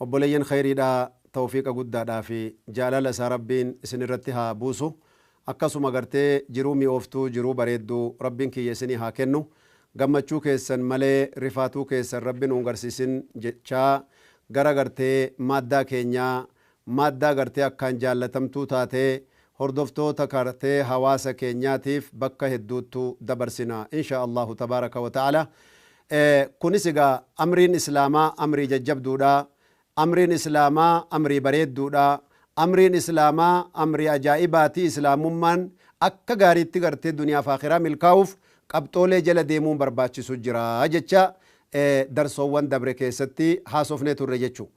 Obboleeyyan khayriidha tawfiiqa guddaadhaa fi jaalala isaa Rabbiin isin irratti haa buusu akkasuma gartee jiruu mi'ooftuu jiruu bareeddu Rabbiin kiyya isinii haa kennu gammachuu keessan malee rifaatuu keessan Rabbi nuun garsiisin jechaa gara gartee maaddaa keenyaa Madda agartee akkaan jaallatamtuu taatee hordoftoota kartee hawaasa keenyaatiif bakka hedduuttu dabarsina insha Allahu tabaaraka wa ta'aala. Kunis egaa amriin islaamaa amrii jajjabduudha. Amriin islaamaa amrii bareedduudha. Amriin islaamaa amrii ajaa'ibaati. Islaamummaan akka gaariitti gartee duniyaaf aakhiraa milkaa'uuf qabxoolee jala deemuun barbaachisu jira jecha darsoowwan dabre keessatti haasofnee turre jechuu.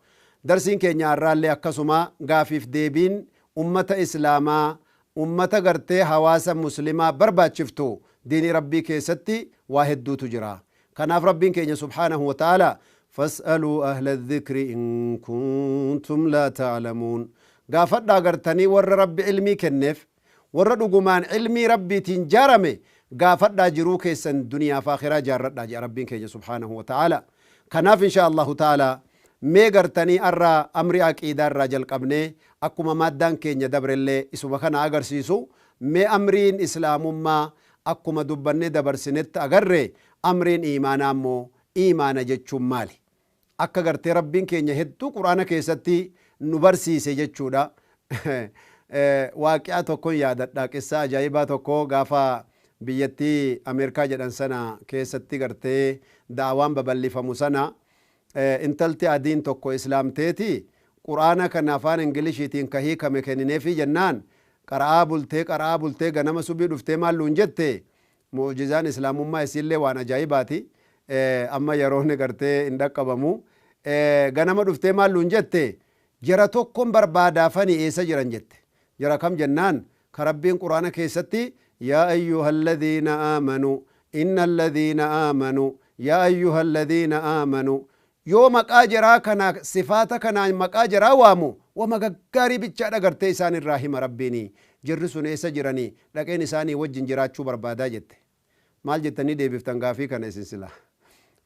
Darsiin keenya har'aallee akkasuma gaafiif deebiin ummata islaamaa ummata gartee hawaasa muslimaa barbaachiftu diinii rabbii keessatti waa hedduutu jira. Kanaaf rabbiin keenya subhaanahu wa ta'aalaa fas'aluu ahla dhikri in kuntum laa ta'lamuun gaafadhaa gartanii warra rabbi ilmii kenneef Warra dhugumaan ilmii Rabbiitiin jaarame gaafadhaa jiruu keessan duniyaaf aakhiraa jaarradhaa je'a Rabbiin keenya subhaanahu wa ta'aalaa. Kanaaf inshaa Allaahu ta'aalaa mee gartanii arra amrii aqiidaa irraa jalqabnee akkuma maaddaan keenya dabrellee isuma kana agarsiisu mee amriin islaamummaa akkuma dubbannee dabarsinett agarre amriin iimaanaa immoo iimaana jechuun maali? Akka gartee Rabbiin keenya hedduu Qur'aana keessatti nu barsiise jechuudha. Waaqi'a tokkon yaadadha, qissaa ajaa'ibaa tokko gaafa biyyattii Ameerikaa jedhan sana keessatti gartee da'awaan babal'ifamu sana intalti adiin tokko islaamteeti Qur'aana kana afaan Inglishiitiin ka hiikame kennineefii jennaan qara'aa bultee qara'aa bultee ganama subii dhuftee maal nuun jette Mu'ujizaan Islaamummaa issiillee waan ajaa'ibaati. Amma yeroon gartee hin dhaqqabamu. Ganama dhuftee maal nuun jette? Jara tokkon barbaada fani eessa jiran jette. Jara kam jennaan ka Rabbiin Qur'aana keessatti Yaa ayyuhalladhiina aamanuu, innalladhiina aamanuu, yaa ayyuhalladhiina aamanuu, Yoo maqaa jaraa kana sifaata kanaan maqaa jaraa waamu wama gaggaarii bichaa dhagartee isaan irraa hima Rabbiini jarri sun eessa jirani dhaqeen isaanii wajjin jiraachuu barbaada jette maal jettanii deebiftan gaafii kana isin sila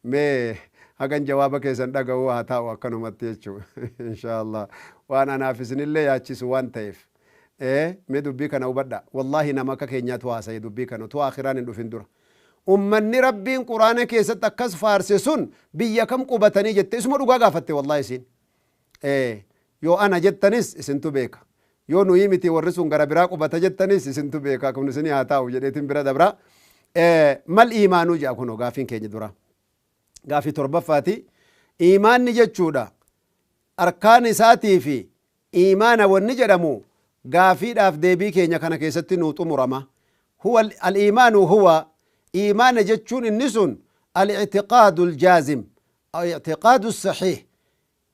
mee hagan jawaaba keessan dhaga'uu haa taa'u akkanumatti jechu inshaallah waan anaaf isinillee yaachisu waan ta'eef ee mee dubbii kana hubadha wallahi nama akka keenyaatu haasa'e dubbii kana utuu aakiraan hin dhufin dura Ummanni Rabbiin Qur'aana keessatti akkas faarse sun biyya kam qubatanii jette isuma dhugaa gaafatte wallahi isiin. Ee yoo ana jettanis isintu beeka. Yoo nuyi miti warri sun gara biraa qubata jettanis isintu beeka kun isinii haa taa'u jedheetiin bira dabra. Ee mal iimaanuu jedha kunoo gaafiin keenya dura. Gaafii torbaffaati. Iimaanni jechuudha arkaan isaatii fi Iimaana wanni jedhamu gaafiidhaaf deebii keenya kana keessatti nuu xumurama. Huwa, Al-iimaanu huwa, iimaana jechuun inni sun Al-i'tiqaadu al-jaazim, i'tiqaadu as-sahiih,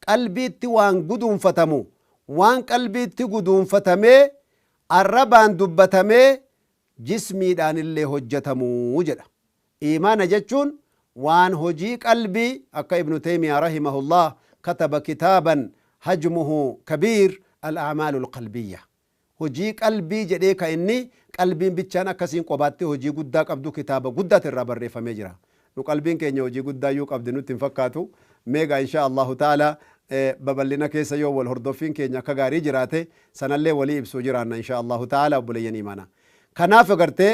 qalbiitti waan guduunfatamu, waan qalbiitti guduunfatamee arrabaan dubbatamee jismiidhaanillee hojjatamu jedha. Iimaana jechuun waan hojii qalbii akka ibnu teymiyaa rahimahullah kataba kitaaban hajmuhu kabiir al-a'maalul qalbiyya hojii qalbii jedhee ka inni qalbiin bichaan akka isiin qobaatti hojii guddaa qabdu kitaaba guddaati irraa barreeffamee jira nu qalbiin keenya hojii guddaa iyyuu qabdi nutti hin fakkaatu mee egaa inshaa allahu ta'ala babal'ina keessa yoo wal hordoffiin keenya akka gaarii jiraate sanallee walii ibsuu jiraanna inshaa allahu ta'ala obboleeyyan iimaana kanaaf agartee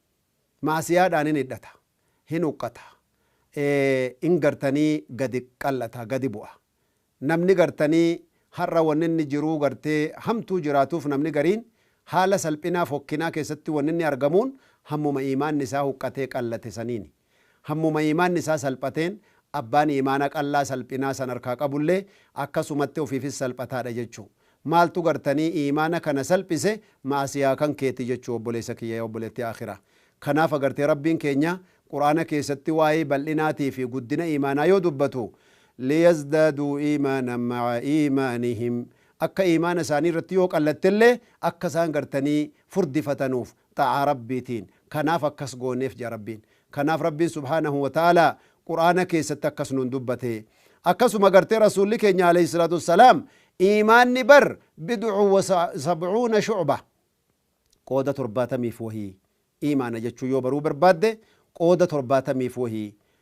Ma'asiyaadhaan hin hidhata, hin huqqata, hin gartanii gadi qal'ata, gadi bu'a. Namni gartanii har'a wanni inni jiruu gartee hamtuu jiraatuuf namni gariin haala salphinaa, fokkinaa keessatti wanni inni argamuun hammuma iimaanni isaa huqqatee, qallate saniini. Hammuma iimaanni isaa salphateen abbaan iimaana qal'aa salphinaa san harkaa qabullee akkasumatti ofiifis salphataadha jechuu. Maaltu gartanii iimaana kana salphise ma'asiyaa kan keeti jechuu obboleessa kiyya yaa obboleettii aakhiraa. Kanaaf agartee Rabbiin keenya Qur'aana keessatti waa'ee bal'inaatii fi guddina iimaanaa yoo dubbatu liyazdaaduu iimaanan ma'a iimaanihim akka iimaana isaanii irratti yoo qal'attellee akka isaan gartanii furdifataniif xaa'aa Rabbiitiin Kanaaf akkas gooneef jedha Rabbiin. Kanaaf Rabbiin subhaanahu wa ta'aalaa Qur'aana keessatti akkas nuun dubbate. Akkasuma gartee Rasuulli keenya aleyhi salaatu wassalaam iimaanni bar bid'un wa sab'uuna shu'bah qooda torbaatamiif wahii iimaana jechuun yoo baruu barbaadde qooda torbaatamiif wahii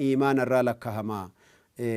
iimaana irraa lakkahama.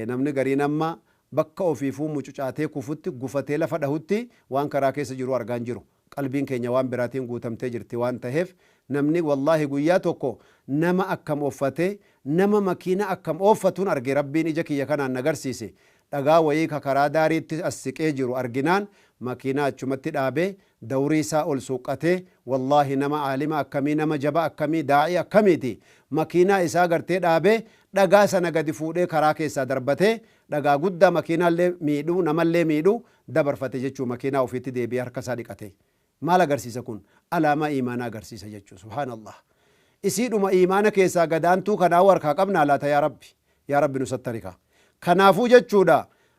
Namni gariin amma bakka ofiifuu mucucaatee kufutti, gufatee lafa dhahutti waan karaa keessa jiruu argaa hin jiru. Qalbiin keenya waan biraatiin guutamtee jirti waan taheef namni wallaahi guyyaa tokko nama akkam offatee, nama makiina akkam ooffatuun arge Rabbiin ija kiyya kanaan na garsiise. Dhagaa wayii ka karaa daariitti as siqee jiru arginaan makiinaa achumatti dhaabee Dawrii isaa ol suuqqatee wallahi nama aalima akkamii nama jaba akkamii daa'ii akkamiiti makiinaa isaa agartee dhaabee dhagaa sana gadi fuudhee karaa keessaa darbatee dhagaa guddaa makiinaallee miidhu namallee miidhu dabarfate jechuu makiinaa ofiitti deebi'ee harka isaa dhiqatee maal agarsiisa kun alaamaa iimaanaa agarsiisa jechuu subhaanallah isiidhuma iimaana keessaa gadaantuu kanaa warkaa qabnaa laata yaa rabbi yaa rabbi nu sattarikaa kanaafuu jechuudha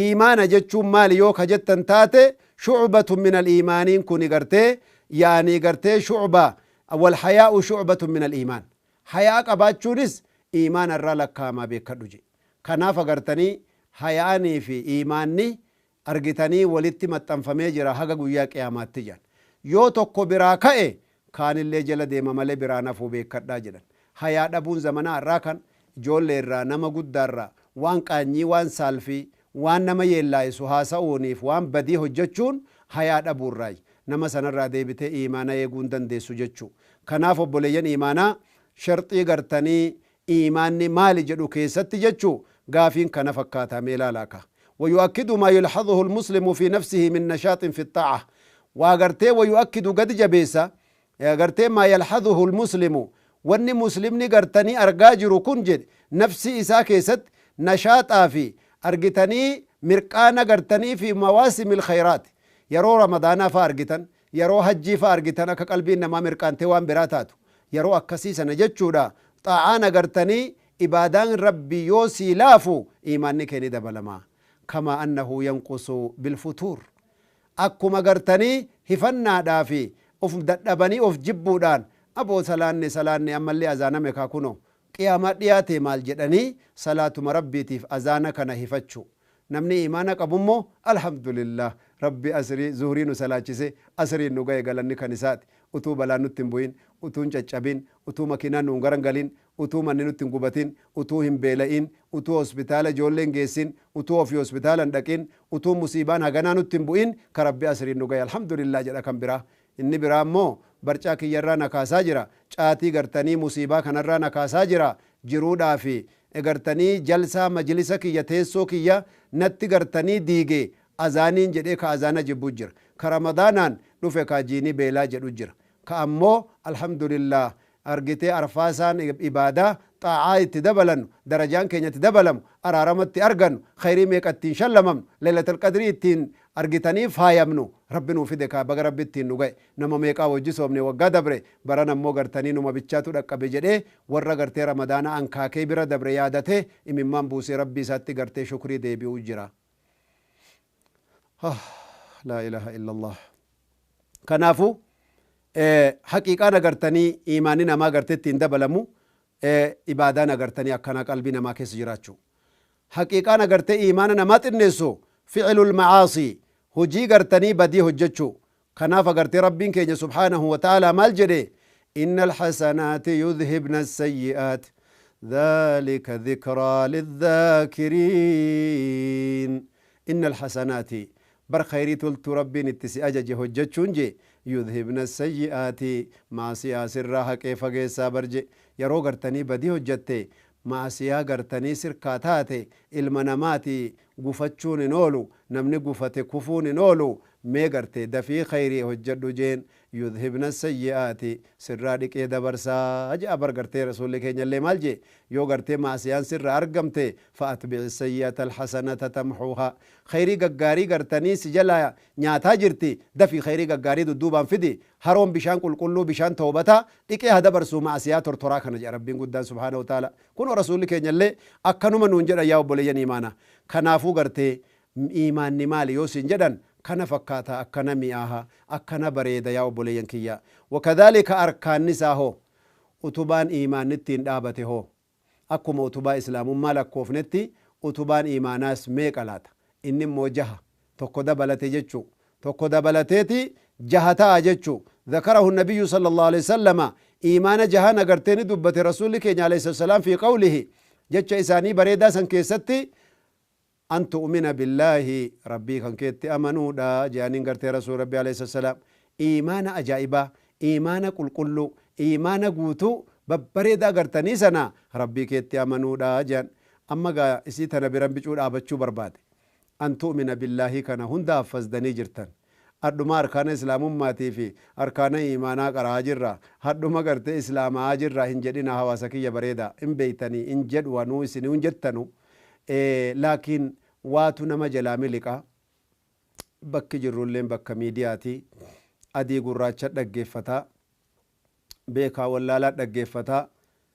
Iimaana jechuun maali yoo ka jettan taate shu'batun minal iimaaniin kuni gartee yaani gartee shu'ba wal hayaa'u shu'batun minal iimaan haya'a qabaachuunis iimaana irraa lakkaa'amaa beekkadhu je'e kanaaf agartanii haya'anii fi iimaanni argitanii walitti maxxanfamee jira haga guyyaa qiyaamaatti je'an yoo tokko biraa ka'e kaanillee jala deema malee biraan hafuu beekkadhaa jedhan. Hayaa dhabuun zamanaa har'aa kan ijoolleerraa, nama guddaarraa waan qaanyii, waan saalfii, waan nama yeellaayisu haasa'uuniif waan badii hojjachuun hayaa dhabuurraayi. Nama sanarraa deebitee iimaana eeguu hin dandeessu jechuu. Kanaaf obboleeyyan iimaanaa sharxii gartanii iimaanni maali jedhu keessatti jechuu gaafiin kana fakkaata mee ilaalaa kaa. Wayu'akkidu maa yulhazuhu almuslimu fii nafsihi min nashaaxin fi xaa'ah waa gartee wayu'akkidu gadi jabeessa gartee maa yalhazuhu almuslimu wanni muslimni gartanii argaa jiru kun jedhe nafsii isaa keessatti nashaaxaa fi argitanii mirqaana gartanii fii mawaasimil khayraati yeroo ramadaanaa faa argitan Yeroo hajjii fa'a argitan akka qalbiin namaa mirqaantee waan biraa taatu. Yeroo akkasii sana jechuudha xaa'aan agartanii ibaadaan Rabbii yoo sii laafu iimaanni kee ni dabalama. Kamaa annahu yanqusu bilfutuur. Akkuma agartanii hifannaadhaa fi of dadhabanii of jibbuudhaan aboo salaanne salaanne ammallee azaaname kaa kunoo qiyaamaa dhiyaatee maal jedhanii salaatuma Rabbiitiif azaana kana hifachuu. Namni iimaana qabu immoo Alhamdulillaah Rabbi Asrii, Zuhrii nu salaachisee, Asriin nu gahe galanni kan isaati. Utuu balaan nutti hin bu'in, utuu hin caccabin, utuu makiinaan nu hin garangalin, utuu manni nutti hin gubatin, utuu hin beela'in, utuu hospitaala ijoollee hin geessin, utuu ofii hospitaala hin dhaqin, utuu musiibaan haganaa nutti hin bu'in ka Rabbi Asriin nu gahe Alhamdulillaah jedha kan biraa Inni biraa immoo barcaa kiyyarraa na kaasaa jira. Caatii gartanii musiibaa kanarraa na kaasaa jira. Jiruudhaa fi gartanii jalsaa majlisa kiyya teessoo kiyya natti gartanii diige. Azaaniin jedhee ka azaana jibbu jira. Ka Ramadaanaan dhufe kaa jiini beelaa jedhu jira. Ka ammoo Alhamdulillah argitee arfaasaan ibaadaa, xaa'aa, itti dabalannu, darajaan keenya itti dabalamu, araarama itti argannu, khayrii meeqa ittiin shallamamnu, laylatal qadrii ittiin argitanii faayamnu Rabbi nuu fide kaa baga Rabbi ittiin nu ga'e. Nama meeqaa wajji soomne waggaa dabre barana immoo gartanii numa bichaatu dhaqqabe jedhee warra gartee ramadaana ankaakee bira dabre yaadatee imimmaan buusee Rabbii isaatti gartee shukrii deebi'uu jira. laa ilaaha illallah kanaafu haqiiqaan agartanii iimaanni namaa agartee ittiin dabalamu ibaadaan agartanii akkanaa qalbii namaa keessa jiraachuu haqiiqaan agartee iimaana namaa xinneessu ficilul macaasii hojii gartanii badii hojjechuu Kanaaf agartee Rabbiin keenya subhaanahu wa ta'aalaa maal jedhe? Inna al-hasanaati yudhibna as-sayyi'aat dhaalika dhikraa lidhaakiriin. Inna al-hasanaati bar khayrii toltuu Rabbiin itti si ajaje hojjachuun je yudhibna as-sayyi'aati ma'asiyaa sirraa haqee fageessaa bar je yaroo gartanii badii hojjatte ma'asiyaa gartanii sirkaa taate ilma namaati gufachuun hin oolu namni gufate kufuun hin oolu mee garte dafii kayrii hojjadhu jeen yudhibna sayyi'aati sirraa dhiqee dabarsa je'a bar gartee rasuulli keenyallee maal jee yoo gartee ma'asiyaan sirra argamte fa atbi'i sayyi'ata alhasanata tamhuha kayrii gaggaarii gartanii si jalaa nyaataa jirti dafii kayrii gaggaarii dudduubaan fidi haroon bishaan qulqulluu bishaan tawbataa dhiqee ha dabarsuu ma'asiyaa tortoraa kana je'a rabbiin guddaan subhaanahu wa ta'aalaa Kunoo Rasuulli keenya illee akkanuma nuun jedhan yaa obboleeyyan iimaana. Kanaafuu gartee iimaanni maali yoo siin jedhan kana fakkaata akkana mi'aaha, akkana bareeda yaa obboleeyyan kiyya. Wa kadhaalika arkaanni isaa hoo? Utubaan iimaanni ittiin dhaabate hoo? Akkuma utubaa Islaamummaa lakkoofnetti utubaan iimaanaas meeqa laata? Inni immoo jaha. tokko dabalate jechu. tokko dabalateeti jaha ta'a jechu. Zakarahu Nabiyyu sallallahu aleyh wasallama iimaana jaha nagartee ni dubbate Rasuulli keenya aleyhissalaam fii qawlihi jecha isaanii bareedaa san keessatti an tu'umina billaahi Rabbii kan keetti amanuudha je'aniin gartee Rasuul Rabbi aleyhissalaam iimaana ajaa'ibaa iimaana qulqulluu iimaana guutuu babbareedaa gartanii sana Rabbii keetti amanuudha je'an. Amma gaa isii tana biran bicuu dhaabachuu barbaade. an tu'mina billaahii kana hunda haffazddanii jirttan. Adhuma arkaana islaamummaati fi arkaana iimaanaa qara'aa jirra, hadhuma gartee islaama'aa jirra hin jedhina hawaasa kiyya bareeda, hin beeytanii hin jedhu anuu isiniu hin jettanu ee laakiin waatu nama jalaa miliqa. Bakki jirrulleen bakka miidiyaati. Adii gurraacha dhaggeeffataa. Beekaa wallaalaa dhaggeeffataa.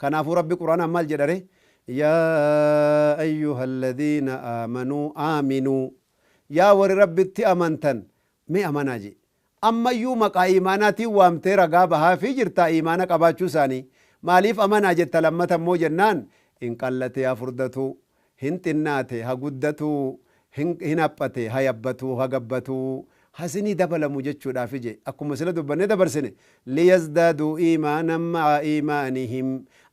Kanaafuu Rabbi Qur'aanaan maal jedha ree? Yaa ayyuhalladhiina aamanuu aaminuu Yaa warri Rabbitti amantan mee amanaa je'e. Ammayyuu maqaa iimaanaatiin waamtee ragaa bahaafii jirtaa iimaana qabaachuu isaanii. Maaliif amanaa jetta lammata immoo jennaan, Inqallatee hafurdatuu. Hin xinnaate ha guddatu, hin haphate ha yabbatu, ha gabbatu, ha isinii dabalamu jechuudhaafi je. Akkuma sila dubbannee dabarsine, liyazdaaduu iimaanan ma'a iimaanihim,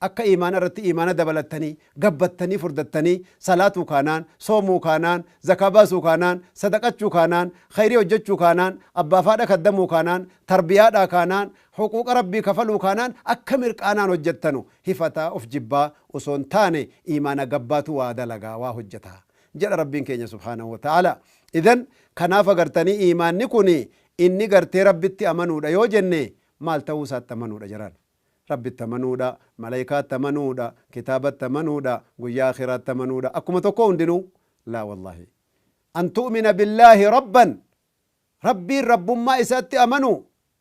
akka iimaana irratti iimaana dabalattanii, gabbattanii, furdattanii, salaatuu kaanaan, soomuu kaanaan, zakaa baasuu kaanaan, sadaqachuu kaanaan, khayrii hojjachuu kaanaan, abbaaf haadha kaddamuu kaanaan, tarbiyaadhaa kaanaan, Huquuqa Rabbii kafaluu kaanaan akka mirqaanaan hojjattanu, hifataa, of jibbaa, osoo hin taane iimaana gabbaatu waa dalagaa, waa hojjata. Jedha Rabbiin keenya subhaanahu wa ta'aalaa. Idhan, kanaaf agartanii iimaanni kuni inni gartee Rabbitti amanuudha yoo jenne maal ta'uu isaatti amanuudha jaraan. Rabbitti amanuudha, malaykaatti amanuudha, kitaabatti amanuudha, guyyaa akhiraatti amanuudha akkuma tokkoo hundinuu? Laa wallahi. An tu'mina billaahi rabban Rabbiin rabbummaa isaatti amanuu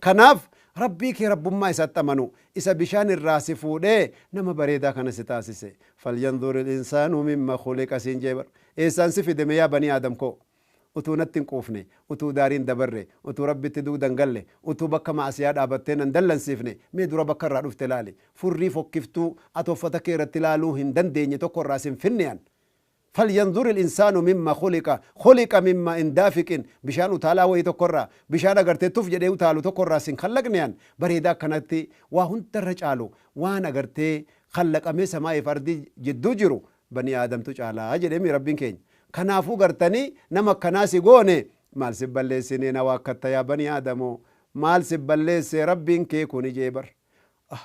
Kanaaf, Rabbii kee Rabbummaa isaatti amanu, isa bishaan irraa si fuudhee nama bareedaa kana si taasise. Falyanzuril insaanu mimma khuliqa siin jee bar. Eessaan si fide mee yaa banii Aadam koo? Utuu natti hin quufne, utuu daariin dabarre, utuu Rabbitti dugda hin galle, utuu bakka ma'asiyaa dhaabattee na hin dallansiifne, mee dura bakka irraa dhufte ilaali. Furrii fokkiftuu ati uffata kee irratti ilaaluu hin dandeenye tokko irraa sin finne an. Falyanzuri linsaanu mimma khuliqa khuliqa mimma in daafiqin bishaan utaalaa wayii tokko irraa bishaan agartee tuf jedhee utaalu tokko irraa sin khallaqne an bareedaa akkanatti waa hunda irra caalu waan agartee khallaqamee samaa fi ardii jidduu jiru banii aadamtu caala jedhee mii rabbiin keenya kanaafuu gartanii nama akkanaa si goone maal si balleessinee na waakkatta yaa banii aadamoo maal si balleessee rabbiin kee kuni jee bar ah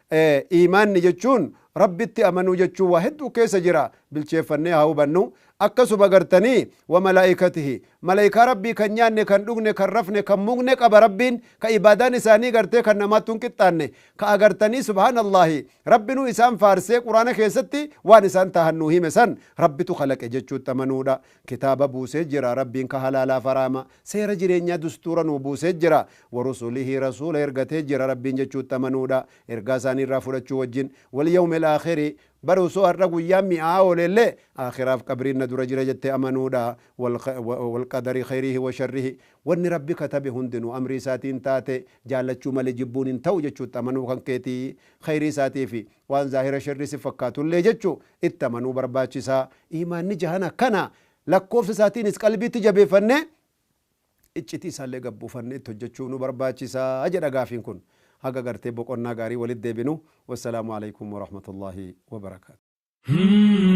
Ee, iimaanni jechuun Rabbitti amanuu jechuu waa hedduu keessa jira, bilcheeffannee haa hubannu. Akkasuma gartanii, wa malaa'ikatihi, malaykaa Rabbii kan nyaanne, kan dhugne, kan rafne, kan mugne qaba Rabbiin, ka ibaadaan isaanii gartee kan namaattu hin qixxaanne, ka agartanii subhaanallaahi, Rabbinuu isaan faarsee quraana keessatti waan isaan tahan nuu hime san Rabbitu khalaqe jechuutti amanuudha. Kitaaba buusee jira, Rabbiin ka halaalaaf haraama, seera jireenyaa dustuura nuu buusee jira. Warusulihi Rasuula ergatee jira, Rabbiin jechuutti amanuudha, ergaa isaanii irraa fudhachuu wajjin. Walyawmil Aakhiri, Bar osoo har'a guyyaan mi'aa'aa ooleellee, Aakhiraaf qabriin na dura jira jettee amanuudha. Walqadari khayrihi washarrihi, Wanni Rabbi katabe hundinuu amrii isaatiin taate, jaallachuu malee jibbuun hin ta'u jechuutti amanuu kan keeti. Khayrii isaatii fi waan zaahira sherrii si fakkaatullee jechu itti amanuu barbaachisa. Iimaanni jahana kana lakkoofsa isaatiinis qalbiitti jabeeffannee iccitii isaallee gad buufannee itti hojjachuu nu barbaachisa jedha gaafiin kun. Haga gartee boqonnaa gaarii walitti deebinu wassalaamu aleykum warahmatullaahi wabarakaatuh.